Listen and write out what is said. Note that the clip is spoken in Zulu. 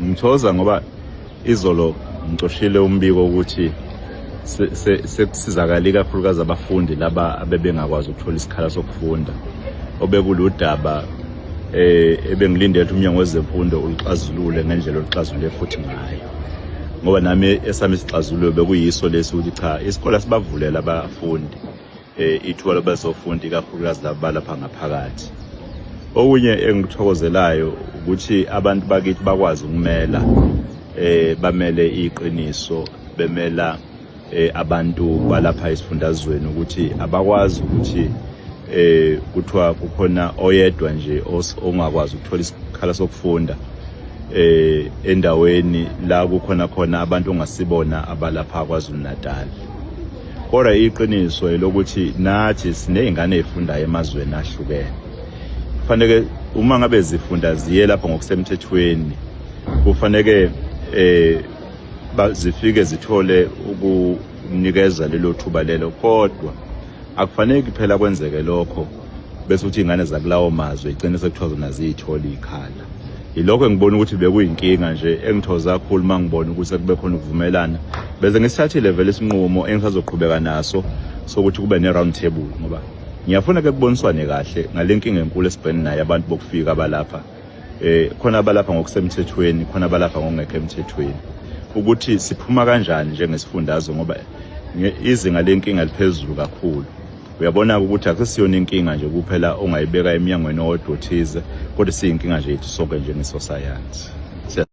Ngithoza ngoba izolo ngixoshile umbiko ukuthi sekusizakala ikakhulukazi abafundi laba abebengakwazi ukuthola isikhala sokufunda obekuludaba eh ebengilindele ukuthi umnyango wezemfundo ulixazulule ngendlela oluxazulule futhi ngayo ngoba nami esami isixazululo bekuyiso lesi ukuthi cha isikole sibavulela abafundi eh, ithuba lobezofundi ikakhulukazi laba balapha ngaphakathi okunye engikuthokozelayo ukuthi abantu bakithi bakwazi ukumela eh bamele iqiniso bemela eh abantu balapha esifundazweni ukuthi abakwazi ukuthi eh kuthiwa kukhona oyedwa nje ongakwazi ukuthola isikhala sokufunda eh endaweni la kukhona khona abantu ongasibona abalapha kwaZulu Natal kodwa iqiniso elokuthi nathi siney'ngane ey'fundayo emazweni ahlukene kufaneke uma ngabe zifunda ziye lapho ngokusemthethweni kufaneke eh zifike zithole ukunikeza lelo thuba lelo kodwa akufanele kuphela kwenzeke lokho bese uthi ingane zakulawo mazwe igcine sekuthiwa zona ziyithola ikhala yilokho engibona ukuthi bekuyinkinga nje engithoza kakhulu uma ngibona ukuthi kube khona ukuvumelana bese ngisithathile vele isinqumo engisazoqhubeka naso sokuthi kube ne-round table ngoba ngiyafuna ke kuboniswane kahle ngale nkinga enkulu esibhekene nayo abantu bokufika abalapha eh khona abalapha ngokusemthethweni khona abalapha ngokungekho emthethweni ukuthi siphuma kanjani njengesifundazwe ngoba izinga lenkinga liphezulu kakhulu uyabona-ke ukuthi akusiyona inkinga nje kuphela ongayibeka emnyangweni owodwa othize kodwa siyinkinga nje yethu sonke njengesosayansi